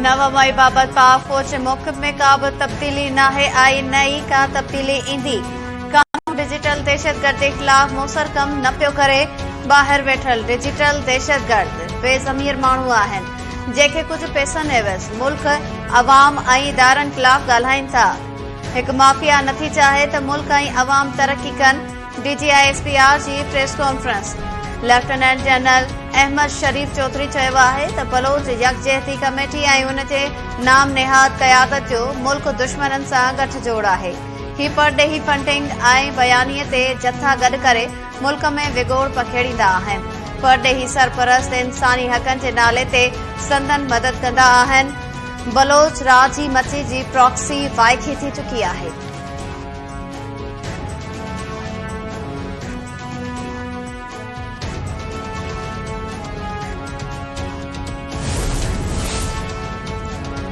نو مئي بابت پاڪ فوج موقف ۾ ڪا به تبديلي ناهي آئي نه ئي ڪا تبديلي ايندي، قانون ڊجيٽل دهشتگردي خلاف موثر ڪم نه پيو ڪري، ٻاهر ويٺل ڊجيٽل دهشتگرد بي ضمير ماڻهو آهن، جيڪي ڪجهه پئسن عيوض ملڪ، عوام ۽ ادارن خلاف ڳالهائين ٿا، هڪ مافيا نٿي چاهي ته ملڪ ۽ عوام ترقي ڪن، D G I S P R جي press conference, lieutenant general Ahmed Sharif Chaudhry چيو آهي ته بلوچ يڪجهتي ڪميٽي ۽ ان جي نام نهاد قيادت جو ملڪ دشمنن سان ڳٺ جوڙ آهي، هي پرڏيهي فنڊنگ ۽ بيانيي تي جٿا گڏ ڪري ملڪ ۾ وڳوڙ پکيڙيندا آهن، پرڏيهي سرپرست انساني حقن جي نالي تي سندن مدد ڪندا آهن، بلوچ راڄ ئي مچي جي پراڪسي وائکي ٿي چڪي آهي.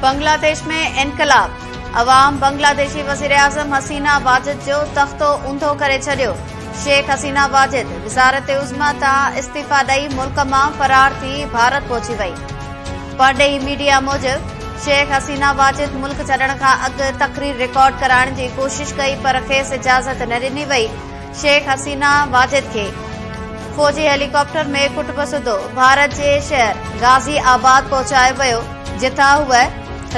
بنگلاديش ۾ انقلاب، عوام بنگلاديشي وزيراعظم حسينه واجد جو تختو اونڌو ڪري ڇڏيو، شيخ حسينه واجد وزارت عظميٰ تان استعيفيٰ ڏئي ملڪ مان فرار ٿي ڀارت پهچي وئي. پرڏيهي ميڊيا موجب، شيخ حسينه واجد ملڪ ڇڏڻ کان اڳ تقرير رڪارڊ ڪرائڻ جي ڪوشش ڪئي پر کيس اجازت نه ڏني وئي، شيخ حسينه واجد کي فوجي هيليڪاپٽر ۾ ڪٽب سڌو ڀارت جي شهر غازي آباد پهچايو ويو، جتان هوء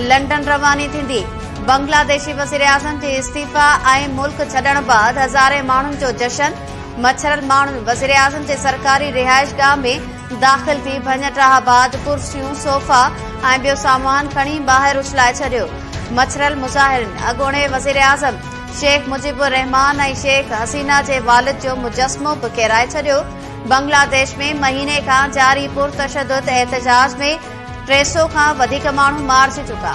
لنڊن رواني ٿيندي. بنگلاديشي وزيراعظم جي استعيفيٰ ۽ ملڪ ڇڏڻ بعد هزارين ماڻهن جو جشن، مڇرل ماڻهن وزيراعظم جي سرڪاري رهائشگاهه ۾ داخل ٿي ڀڃٽاهه بعد ڪرسيون، صوفا ۽ ٻيو سامان کڻي ٻاهر اڇلائي ڇڏيو، مڇريل مظاهرين اڳوڻي وزيراعظم شيخ مجيب الرحمان ۽ شيخ حسينه جي والد جو مجسمو به ڪيرائي ڇڏيو، بنگلاديش ۾ مهيني کان جاري پرتشدد احتجاج ۾ ٽي سؤ کان وڌيڪ ماڻهو مارجي چڪا.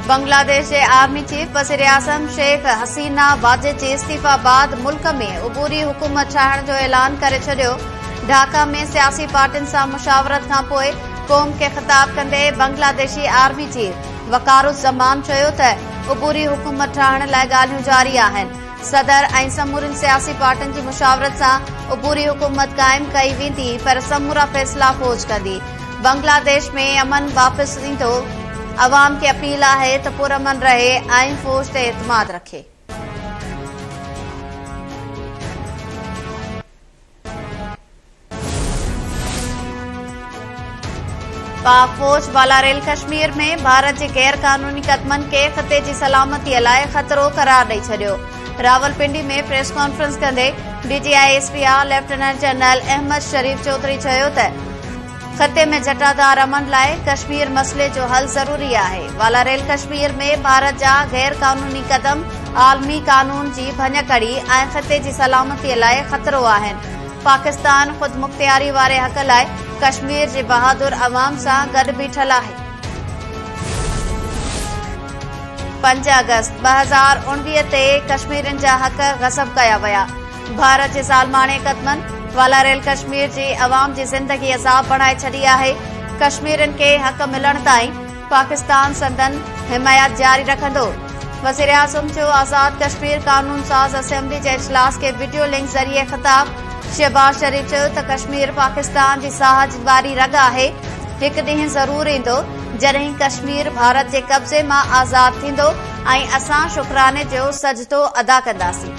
بنگلاديش جي آرمي چيف وزيراعظم شيخ حسينه واجد جي استعيفا بعد ملڪ ۾ عبوري حڪومت ٺاهڻ جو اعلان ڪري ڇڏيو ڍاڪا ۾ سياسي پارٽين سان مشاورت کان پوء قوم کي خطاب ڪندي بنگلاديشي آرمي چيف وقار الزمان چيو ته عبوري حڪومت ٺاهڻ لاء ڳالهيون جاري آهن صدر ۽ سمورين سياسي پارٽين جي مشاورت سان عبوري حڪومت قائم ڪئي ويندي پر سمورا فيصلا فوج ڪندي، بنگلاديش ۾ امن واپس ايندو، عوام کي اپيل آهي ته پرامن رهي ۽ فوج تي اعتماد رکي. پاڪ فوج بالاريل ڪشمير ۾ ڀارت جي غير قانوني قدمن کي خطي جي سلامتي لاء خطرو قرار ڏئي ڇڏيو راولپنڊي ۾ پريس ڪانفرنس ڪندي D G I S P I lieutenant general Ahmed Sharif Chaudhry چيو ته خطي ۾ جٽادار امن لاء ڪشمير مسئلي جو حل ضروري آهي، والاريل ڪشمير ۾ ڀارت جا غير قانوني قدم عالمي قانون جي ڀڃڪڙي ۽ خطي جي سلامتي لاء خطرو آهن، پاڪستان خودمختياري واري حق لاء ڪشمير جي بهادر عوام سان گڏ بيٺل آهي. پنج آگسٽ ٻه هزار اوڻويهه تي ڪشميرين جا حق غصب ڪيا ويا. ڀارت جي ظالماڻي قدمن والاريل ڪشمير جي عوام جي زندگي عذاب بڻائي ڇڏي آهي، ڪشميرين کي حق ملڻ تائين پاڪستان سندن حمايت جاري رکندو، وزيراعظم جو آزاد ڪشمير قانون ساز اسيمبلي جي اجلاس کي وڊيو لنڪ ذريعي خطاب، شهباز شريف چيو ته ڪشمير پاڪستان جي ساهه واري رڳ آهي، هڪ ڏينهن ضرور ايندو جڏهن ڪشمير ڀارت جي قبضي مان آزاد ٿيندو ۽ اسان شڪراني جو سجدو ادا ڪنداسين.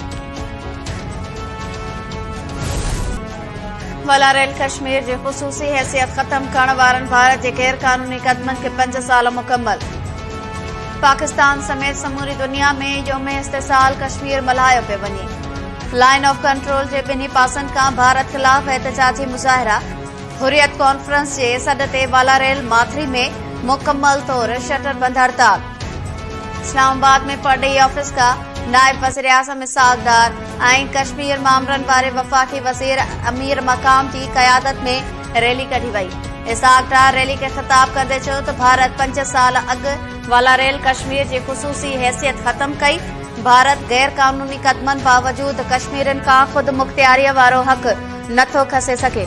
والاريل ڪشمير جي خصوصي حيثيت ختم ڪرڻ وارن ڀارت جي غيرقانوني قدمن کي پنج سال مڪمل پاڪستان سميت سموري دنيا ۾ يوم استحصال ڪشمير ملهايو پيو وڃي لائن آف ڪنٽرول جي ٻنهي پاسن کان ڀارت خلاف احتجاجي مظاهرا حريت ڪانفرنس جي سڏ تي والاريل ماٿري ۾ مڪمل طور شٽر بند هڙتال اسلام آباد ۾ پر ڊي آفيس ڪا نائب وزيراعظم اسحاق ڊار ۽ ڪشمير مامرن واري وفاقي وزير امير مقام جي قيادت ۾ ريلي ڪڍي وئي اسحاق ڊار ريلي کي خطاب ڪندي چيو ته ڀارت پنج سال اڳ والا ريل ڪشمير جي خصوصي حيثيت ختم ڪئي ڀارت غير قانوني قدمن باوجود ڪشميرين کان خود مختياري وارو حق نٿو کسي سگهي.